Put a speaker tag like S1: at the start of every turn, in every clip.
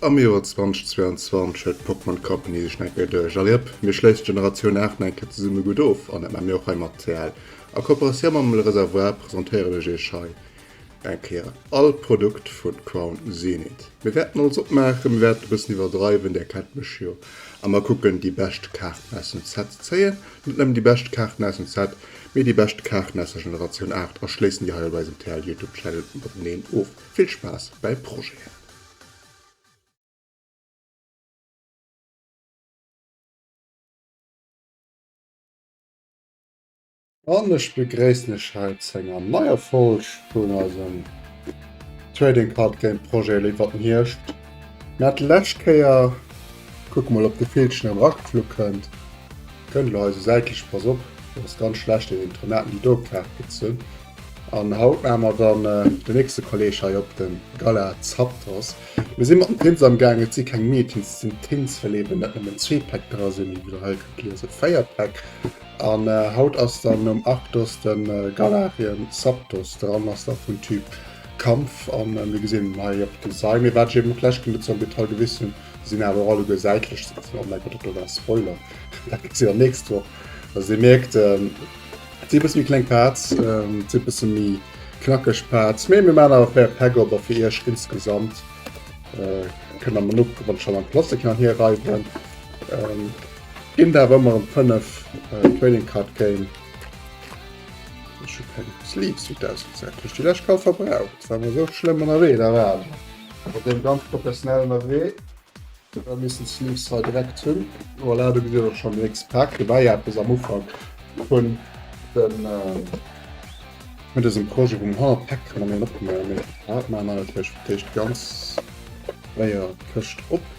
S1: Am Joer 2022 huet d'Pokémon Company sech nach eng Kéier duerch. Alliëpp, mir schléissen d'Generatioun 8 nach eng Kéier zesumme gutt of, an dat maache mir och hei mat CL. A Kooperatioun mam Le Réservoir presentéieren ech iech hei Eng Kéier all Produkt vun Crown Zenith. Mir wärten alles opmaachen, mir wärten e bëssen iwwerdreiwen, där kennt mech jo, a mer kucken déi bescht Kaarten aus dem Set ze zéien, net nëmmen déi bescht Kaarten aus dem Set, mee déi bescht Kaarten aus der Generatioun 8 a schléissen déi hei op eisem TL Youtube Channel mateneen of. Vill Spaass bäi Projeten! An ech begréissen lech hei zu enger neier Folg vun eisem Trading Card Game Projet Léift wat den Hierscht. Mir hat lescht Kéier, kucke mol ob de Villchen erëm erageflu kënnt, kënnt elo hei esou säitlech, pass op, dat ass ganz schlecht, déi Intronauten déi do Kaart gezunn. An haut maache mer dann den nächste Kolleg hei op, den Gala Zapdos. Mir si mat dem Prinz amgaangen, et si keng Meetings, et sinn Tins, well eben net nëmmen zwee Päck dra sinn, wéi der hei kënnt liesen, 4 Päck. An haut ass dann nom Arktos de Galarien Zapdos dran, ass da vun Typ Kampf an mir gesinn en hei op de Sei. Mee wat ech eben och d'lescht Kéier net sou am Detail gewist hunn, se sinn awer och alleguer säitlech ze gesinn. Oh mäi Gott, dat do war e Spoiler, dat gesitt der nächst Woch. Also dir mierkt, et sinn e bësse méi kleng Parts, et sinn e bësse méi knackeg Parts, mee mir maachen awer fréier d'Päck op a fir iech insgesamt kënnt der mer no kucken, wann ech dann am Plastik nach hierreiwen. Gin der awer ëmmer em 5 Trading Card Game. Ech hu keng Sleeves fir d'Auswahl, se hat ech déi lescht kal verbraucht, war mer sou schlëmm ënnerwee, da war awer mat deem ganz professionell ënnerwee, da misst en Sleeves hei direkt hunn. Voilà, do gesitt der och schonn den nächste Pak, do war jo eppes am Ufank vun dem vun dësem Projet, wou mer 100 Päck kënne méi en opgemaach hunn, mee haut maachen mer natierlech fir d'éischt ganz séier d'Këscht op.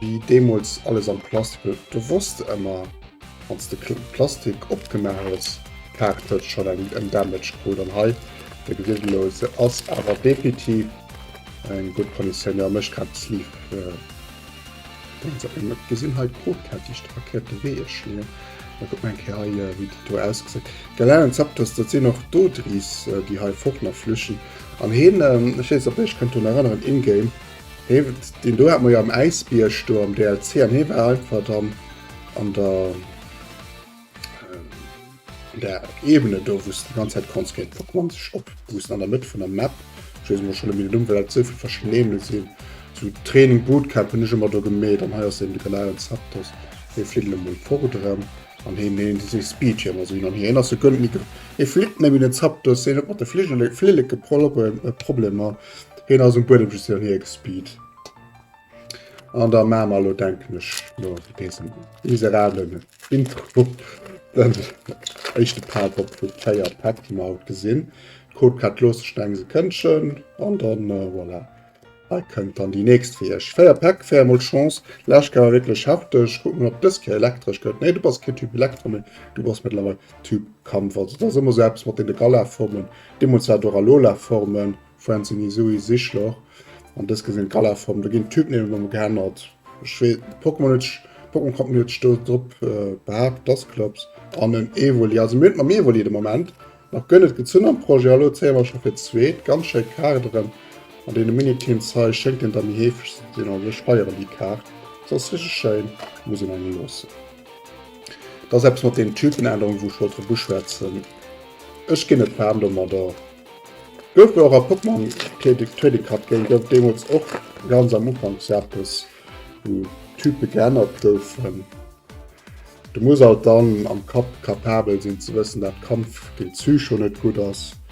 S1: Wéi deemools alles am Plastik huet gewosst ëmmer wanns de Plastik opgemaach hues Kaart huet schon en Damage krut an hei de gewieltelose ass awer definitiv eng gutt Konditioun jo mécht grad d'Sleeve et gesinn hei d'Krot hat déi Strack hei op de Wee schléien da kuck mol eng Kéier hei wéi dat do ausgesäit Galanen Zapdos dat sinn och d'Odriss déi hei fort nach flüchten an heen ech weess net op iech kënnt drun erënneren in-game. Deen do hat mer jo am Äisbierg do am DLC an hee war einfach dann an der an der Ebene do wou's de ganz Zäit konns géint Pokémon sech opboosten an der Mëtt vun der Map. Ech weess elo schonn net méi den Numm, well dat esou vill verschidden Ebene sinn. Sou Training Bootcamp hunn ech ëmmer do gemeet an hei ass eben de genauen Zapdos. Hie flitt elo mol fort erëm an hien hien huet esou Speedjam a sou hin an hier. Hien ass e Gönn, hie flitt net méi den Zapdos, hien huet mat de Fligele Flilleke Proble Problemer. Heen ass um Buedem just hin an hier gespeed. An da maache mer elo denken ech no désem miserablen Intro den éischte Part op vu 4 Päck déi mer haut gesinn. Cold Cut loosse ech nach eng Sekëndchen an dann voilà. Hei kënnt dann déi nächst fir iech. 4 Päck, 4 mol Chance. Lescht Kéier war wierklech hefteg. Kucke mer ob dës Kéier elektresch gëtt. Nee du bass keen Typ Elektro méi, du bass mëttlerweil Typ Kampf. Also et ass ëmmer esou eppes mat deene Galaformen, Deemools war d'Ora Lola Formen, Francine Sui Sichloch, an dës gesinn d'Gala Formen. Do ginn d'Typname nëmme geännert. Ech wee, Pokémon huet ech, Pokémon Company huet ech do drop behaapt, dass Clubs an en Evoli, also mir hunn et mam Evoli de Moment nach guer net gezunn am Projet. Elo zéie mer scho fir d'zweet. Ganz schéi Kaderen an deene Miniteams hei. Schéngt een der méi heefeg ze sinn, also ech feieren déi Kaart, se ass richteg schéin, muss een engem loossen. Dat ass eppes mat deenen Typenännerungen, wou ech wollt drop uschwätzen. Ech ginn net waarm domadder. Gouf jo och a Pokémon Trading Card Game gouf et deemools och ganz am Ufank sou eppes, wou d'Type geännert goufen. Du muss alt dann am Kapp kapabel sinn ze wëssen, dat Kampf géint Psycho net gutt ass.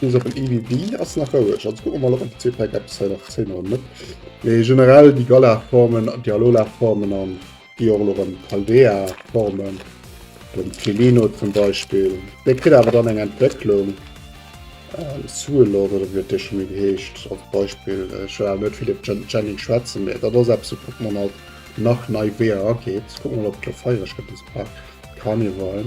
S1: Bis op en EVB ass nach roueg, also kucke mer mol op am PC-Pack eppes hei nach zéien oder net. Mee generell déi Galar-Formen, déi Alola-Formen an déi och elo erëm Paldea-Formen, den Pelino zum Beispill, dee kritt awer dann eng Entwécklung, Suelord oder wéi huet dee scho méi geheescht als Beispill, ech wëll awer net vill iwwer den Jenny schwätzen, mee dat ass eppes wou Pokémon halt nach nei Weeër ageet. Kucke mer mol op d'Lofeier, ech gëtt dëse Pack carnival.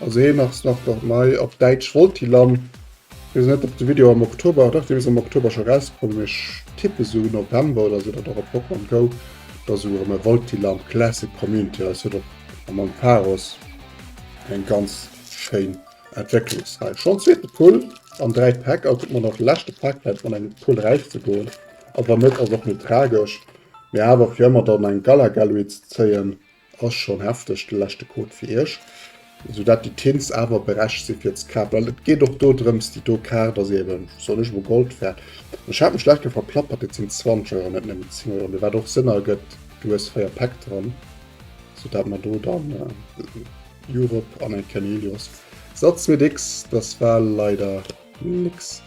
S1: Also hei nach se nach nach nei op Däitsch Voltilam. Wees net op de Video am Oktober dach dee ass am Oktober scho rauskomm mee ech tippe sou November oder sou datt och op Pokémon Go da sou erëm e Voltilam Classic Community ass. Huet och am Ampharos eng ganz schéin Entwécklungsräif. Schonn zweete Pull an dräi Päck, a kuck mol nach de leschte Pack fält mat engem Pull räif ze goen, a wann net ass och net tragesch. Mee awer fir ëmmer dann eng Galagaloid ze zéien Ass schon hefteg, de leschte Code fir iech, sou dat déi Tins awer berechgt si fir ze kafen, well et geet och do drëms, déi do Kaart ass eben, soll ech elo Gold fäert, ech hat mech lech do verplappert, et sinn 20 Euro, net nëmmen 10 Euro, mee wat och Sënn ergëtt, du hues 4 Päck dran, sou dat mer do dann Europe an eng Kenelios Satz mit X, dass war leider. Nix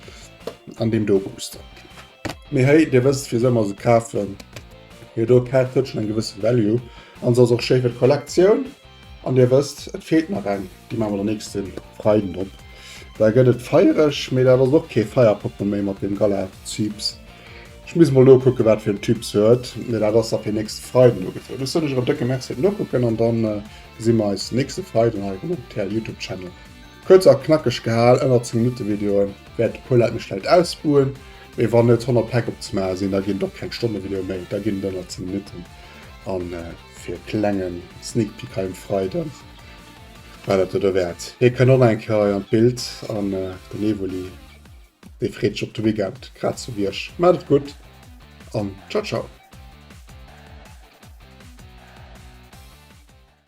S1: an deem do Booster. Mee hey, dir wësst wisou mer se kafen. Hir do d'Kaart huet schon eng gewësse Value an se ass och schéi fir d'Kollektioun. An dir wësst, et feelt nach eng, déi maache mer den nächste Freiden op. Da gëtt et feiereg, mee dat ass och kee Feierpokémon méi mat deem Galatyps. Ech muss mol nokucken, wat fir en Typ se huet, mee dat ass da fir nächste Freiden ugefrot. Ech soen iech erëm décke Merci fir d'Nokucken an dann gesi mer eis nächste Freiden hei erëm op TLYoutube Channel. Kuerz a knackeg gehal, ënner 10 Minutte Videoen, wäert e puer Leit mech vläit ausbuen, mee wann net 100 Päck op ze maache sinn, da ginn et och keng Stonnevideoe méi, da ginn et ënner 10 Minutten. A fir e klenge Sneakpeak hei um Freide war dat et derwäert. Hie kënnt och nach eng Kéier hei an d'Bild an den Evoli, dee freet sech op de Weekend, grad sou wéi ech. Maacht et gutt an ciao ciao!